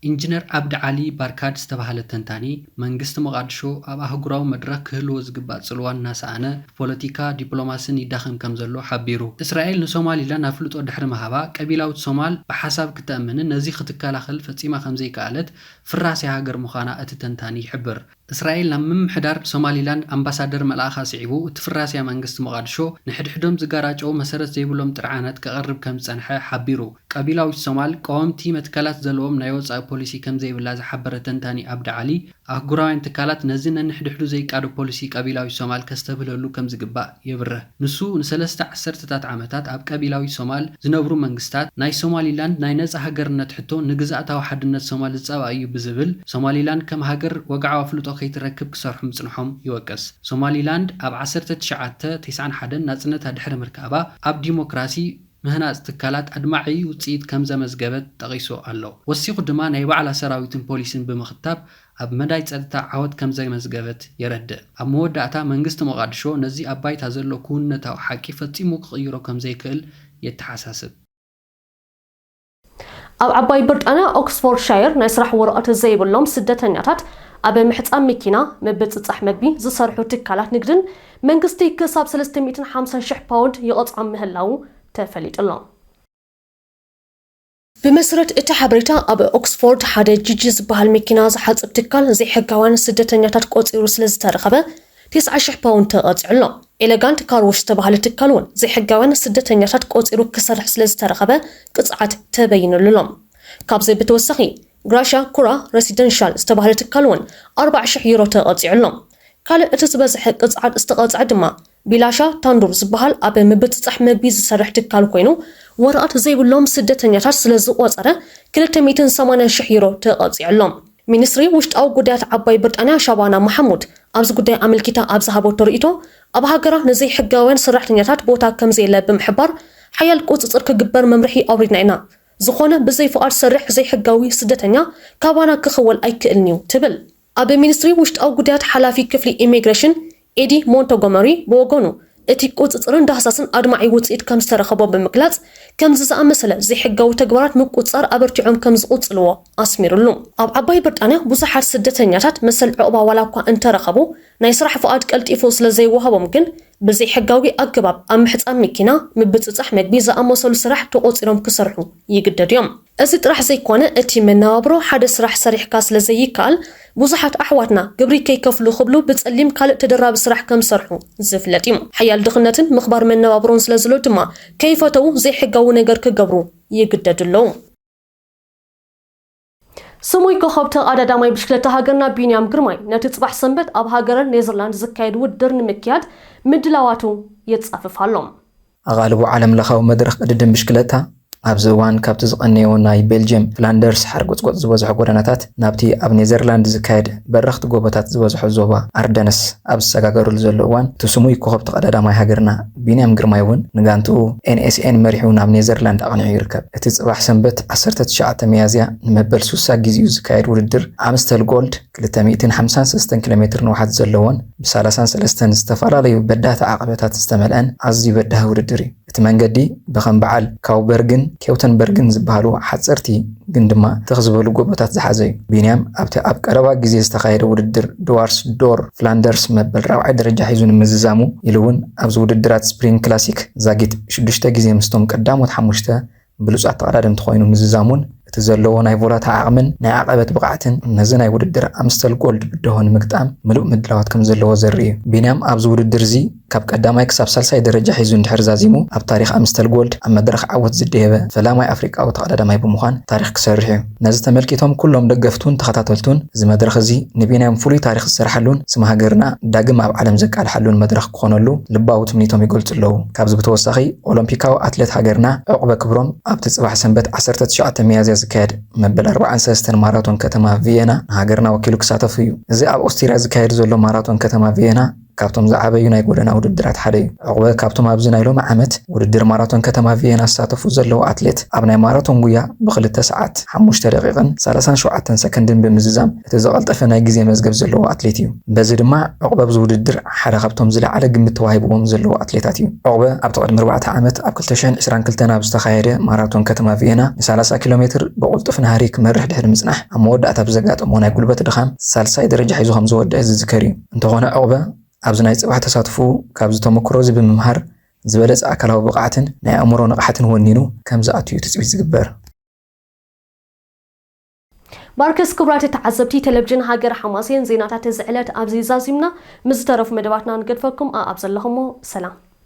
ኢንጅነር ኣብዲ ዓሊ ባርካድ ዝተባህለ ተንታኒ፣ መንግስቲ መቓድሾ ኣብ ኣህጉራዊ መድረኽ ክህልዎ ዝግባእ ጽልዋ እናሰኣነ፣ ብፖለቲካ ዲፕሎማስን ይዳኸም ከምዘሎ ሓቢሩ። እስራኤል ንሶማሊላንድ ኣፍልጦ ድሕሪ ምሃባ፣ ቀቢላዊት ሶማል ብሓሳብ ክተእምንን ነዚ ክትከላኸል ፈጺማ ከምዘይከኣለት ፍራሴ ሃገር ምዃና እቲ ተንታኒ ይሕብር። እስራኤል ናብ ምምሕዳር ሶማሊላንድ ኣምባሳደር ምልኣኻ ስዒቡ እቲ ፍራሴ መንግስቲ ሞቓድሾ ንሕድሕዶም ዝጋራጨዉ መሰረት ዘይብሎም ጥርዓናት ከቕርብ ከም ዝጸንሐ ሓቢሩ። ቀቢላዊት ሶማል ቀወምቲ መትከላት ዘለዎም ናይ ወጻኢ ፖሊሲ ከም ዘይብላ ዝሓበረ ተንታኒ ኣብዲ ዓሊ፣ ኣህጉራውያን ትካላት ነዚ ነንሕድሕዱ ዘይቃዶ ፖሊሲ ቀቢላዊት ሶማል ከስተብህለሉ ከም ዝግባእ የብርህ። ንሱ ንሰለስተ ዓሰርተታት ዓመታት ኣብ ቀቢላዊት ሶማል ዝነብሩ መንግስታት፣ ናይ ሶማሊላንድ ናይ ነጻ ሃገርነት ሕቶ ንግዝኣታዊ ሓድነት ሶማል ዝጻባእ እዩ ብዝብል፣ ሶማሊላንድ ከም ሃገር ወግዓዊ ኣፍልጦ ከይትረክብ ክሰርሑ ምጽንሖም ይወቅስ። ሶማሊላንድ ኣብ ዓሰርተ ትሽዓተ ቴስዓን ሓደን ናጽነታ ድሕሪ ምርካባ፣ ኣብ ዲሞክራሲ፣ ምህናጽ ትካላት ኣድማዒ ውጽኢት ከምዘመዝገበት ጠቒሱ ኣሎ። ወሲኹ ድማ ናይ ባዕላ ሰራዊትን ፖሊስን ብምኽታብ፣ ኣብ መዳይ ጸጥታ ዓወት ከምዘመዝገበት የረድእ። ኣብ መወዳእታ፣ መንግስቲ ሞቓድሾ ነዚ ኣብ ባይታ ዘሎ ክውንነታዊ ሓቂ ፈጺሙ ክቕይሮ ከምዘይክእል የተሓሳስብ። ኣብ ዓባይ ብርጣንያ ኦክስፎርድሻየር ናይ ስራሕ ወረቐት ዘይብሎም ስደተኛታት ኣብ ምሕጻብ መኪና፣ ምብጽጻሕ መግቢ፣ ዝሰርሑ ትካላት ንግድን መንግስቲ ክሳብ ሰለስተ ሚእትን ሓምሳን ሽሕ ፓውንድ ይቐጽዖም ምህላዉ ተፈሊጡ'ሎ። ብመስረት እቲ ሓበሬታ ኣብ ኦክስፎርድ ሓደ ጂጂ ዝበሃል መኪና ዝሓፅብ ትካል ዘይሕጋውያን ስደተኛታት ቆፂሩ ስለዝተረኸበ ተስዓ ሽሕ ፓውንድ ተቐፂዑ ኣሎ። ኤለጋንት ካር ዎሽ ዝተበሃለ ትካል እውን ዘይሕጋውያን ስደተኛታት ቆፂሩ ክሰርሕ ስለዝተረኸበ ቅፅዓት ተበይኑሉ ኣሎ። ካብዚ ብተወሳኺ ግራሻ ኩራ ረሲደንሻል ዝተበሃለ ትካል እውን ኣርብዓ ሽሕ ዩሮ ተቐፂዑ ኣሎ። ካልእ እቲ ዝበዝሐ ቅፅዓት ዝተቐፅዐ ድማ ቢላሻ ታንዱር ዝበሃል ኣብ ምብፅፃሕ ምግቢ ዝሰርሕ ትካል ኮይኑ ወረቐት ዘይብሎም ስደተኛታት ስለዝቖፀረ ክልተ ሚእትን ሰማንያን ሽሕ ዩሮ ተቐፂዐሎም። ሚኒስትሪ ውሽጣዊ ጉዳያት ዓባይ ብርጣንያ ሻባና ማሓሙድ ኣብዚ ጉዳይ ኣመልኪታ ኣብ ዝሃበቶ ርኢቶ ኣብ ሃገራ ንዘይሕጋውያን ሰራሕተኛታት ቦታ ከምዘየለ ብምሕባር ሓያል ቁፅፅር ክግበር መምርሒ ኣውሪድና ኢና ዝኾነ ብዘይፍቓድ ዝሰርሕ ዘይሕጋዊ ስደተኛ ካባና ክኽወል ኣይክእልን እዩ ትብል። ኣብ ሚኒስትሪ ውሽጣዊ ጉዳያት ሓላፊ ክፍሊ ኢሚግሬሽን ኤዲ ሞንቶጎመሪ ብወገኑ፣ እቲ ቁጽጽርን ዳህሳስን ኣድማዒ ውጽኢት ከም ዝተረኸቦ ብምግላጽ፣ ከምዚ ዝኣመሰለ ዘይሕጋዊ ተግባራት ምቁጽጻር ኣበርቲዖም ከም ዝቕጽልዎ ኣስሚርሉ። ኣብ ዓባይ ብርጣንያ ብዙሓት ስደተኛታት መሰል ዑቕባ ዋላ እኳ እንተ ረኸቡ፣ ናይ ስራሕ ፍቓድ ቀልጢፉ ስለ ዘይወሃቦም ግን ብዘይሕጋዊ ኣገባብ ኣብ ምሕጻብ መኪና፣ ምብጽጻሕ መግቢ ዝኣመሰሉ ስራሕ ተቖጺሮም ክሰርሑ ይግደዱ እዮም። እዚ ጥራሕ ዘይኮነ እቲ መነባብሮ ሓደ ስራሕ ሰሪሕካ ስለ ዘይከኣል ብዙሓት ኣሕዋትና ግብሪ ከይከፍሉ ክብሉ ብፀሊም ካልእ ተደራቢ ስራሕ ከም ዝሰርሑ ዝፍለጥ እዩ። ሓያል ድኽነትን ምኽባር መነባብሮን ስለ ዝሎ ድማ ከይፈተዉ ዘይሕጋዊ ነገር ክገብሩ ይግደዱ ኣለዉ። ስሙይ ኮኾብ ተቓዳዳማይ ብሽክለታ ሃገርና ቢንያም ግርማይ ነቲ ፅባሕ ሰንበት ኣብ ሃገረ ኔዘርላንድ ዝካየድ ውድድር ንምክያድ ምድላዋቱ የፃፍፍ ኣሎ። ኣቓልቦ ዓለምለኻዊ መድረኽ ቅድድም ብሽክለታ፣ ኣብዚ እዋን ካብቲ ዝቐነዮ ናይ ቤልጅየም ፍላንደርስ ሓርጎጽጎጽ ዝበዝሖ ጎደናታት ናብቲ ኣብ ኔዘርላንድ ዝካየድ በረኽቲ ጎቦታት ዝበዝሖ ዞባ ኣርደነስ ኣብ ዝሰጋገረሉ ዘሎ እዋን እቲ ስሙይ ኮኾብ ተቐዳዳማይ ሃገርና ቢንያም ግርማይ'ውን ንጋንትኡ NSN መሪሑ ናብ ኔዘርላንድ ኣቕኒዑ ይርከብ። እቲ ጽባሕ ሰንበት ዓሰርተ ትሽዓተ ሚያዝያ ንመበል ሱሳ ግዜኡ ዝካየድ ውድድር ኣምስተል ጎልድ ክልተ ሚእትን ሓምሳን ሰለስተን ኪሎ ሜትር ንውሓት ዘለዎን ብሳላሳን ሰለስተን ዝተፈላለዩ በዳህቲ ዓቐበታት ዝተመልአን ኣዝዩ በዳሂ ውድድር እዩ። እቲ መንገዲ ብከም በዓል ካውበርግን ኬውተንበርግን ዝበሃሉ ሓጸርቲ ግን ድማ ትኽ ዝበሉ ጎቦታት ዝሓዘ እዩ። ቢንያም ኣብቲ ኣብ ቀረባ ግዜ ዝተኻየደ ውድድር ድዋርስ ዶር ፍላንደርስ መበል ራብዓይ ደረጃ ሒዙ ንምዝዛሙ ኢሉ'ውን ኣብዚ ውድድራት ስፕሪንግ ክላሲክ ዛጊት ሽዱሽተ ግዜ ምስቶም ቀዳሞት ሓሙሽተ ብሉጻት ተቐዳደምቲ ኮይኑ ምዝዛሙን እቲ ዘለዎ ናይ ቮላታ ዓቕምን ናይ ዓቐበት ብቕዓትን ነዚ ናይ ውድድር ኣምስተል ጎልድ ብደሆ ንምግጣም ምሉእ ምድላዋት ከምዘለዎ ዘርኢ እዩ። ቢንያም ኣብዚ ውድድር'ዚ ካብ ቀዳማይ ክሳብ ሳልሳይ ደረጃ ሒዙ እንድሕር ዛዚሙ ኣብ ታሪኽ ኣምስተል ጎልድ ኣብ መድረኽ ዓወት ዝደየበ ፈላማይ ኣፍሪቃዊ ተቐዳዳማይ ብምዃን ታሪኽ ክሰርሕ እዩ። ነዚ ተመልኪቶም ኩሎም ደገፍቱን ተኸታተልቱን እዚ መድረኽ እዚ ንቢንያም ፍሉይ ታሪኽ ዝሰርሓሉን ስም ሃገርና ዳግም ኣብ ዓለም ዘቃልሓሉን መድረኽ ክኾነሉ ልባዊ ትምኒቶም ይገልጹ ኣለዉ። ካብዚ ብተወሳኺ ኦሎምፒካዊ ኣትለት ሃገርና ዑቕበ ክብሮም ኣብቲ ጽባሕ ሰንበት ዓሰርተ ትሽዓተ ሚያዝያ ዝካየድ መበል ኣርብዓን ሰለስተን ማራቶን ከተማ ቪየና ንሃገርና ወኪሉ ክሳተፍ እዩ። እዚ ኣብ ኦስቲርያ ዝካየድ ዘሎ ማራቶን ከተማ ቪየና፣ ካብቶም ዝዓበዩ ናይ ጎደና ውድድራት ሓደ እዩ። ዑቕበ ካብቶም ኣብዚ ናይ ሎሚ ዓመት ውድድር ማራቶን ከተማ ቪየና ዝሳተፉ ዘለዉ ኣትሌት ኣብ ናይ ማራቶን ጉያ ብክልተ ሰዓት፣ ሓሙሽተ ደቒቕን ሰላሳን ሸውዓተን ሰከንድን ብምዝዛም እቲ ዝቐልጠፈ ናይ ግዜ መዝገብ ዘለዎ ኣትሌት እዩ። በዚ ድማ ዑቕበ ኣብዚ ውድድር ሓደ ካብቶም ዝለዓለ ግምት ተዋሂብዎም ዘለዉ ኣትሌታት እዩ። ዑቕበ ኣብቲ ቅድሚ ኣርባዕተ ዓመት ኣብ ክልተ ሽሕን ዕስራን ክልተን ኣብ ዝተኻየደ ማራቶን ከተማ ቪየና ንሳላሳ ኪሎ ሜትር ብቕልጡፍ ናህሪ ክመርሕ ድሕሪ ምጽናሕ ኣብ መወዳእታ ብዘጋጠሞ ናይ ጉልበት ድኻም ሳልሳይ ደረጃ ሒዙ ከምዝወደኣ ዝዝከር እዩ። እንተኾነ ዑቕበ ኣብዚ ናይ ጽባሕ ተሳትፍኡ ካብዚ ተመኩሮዚ ብምምሃር ዝበለጸ ኣካላዊ ብቕዓትን ናይ ኣእምሮ ንቕሓትን ወኒኑ ከምዝኣቱ'ዩ ትጽቢት ዝግበር። ባርክስ ክብራት ተዓዘብቲ ተለቭጅን ሃገረ ሓማሴን ዜናታት እዚ ዕለት ኣብዚ ዛዚምና ምስ ዝተረፉ መደባትና ንገድፈኩም ኣኣብ ዘለኹሞ ሰላም።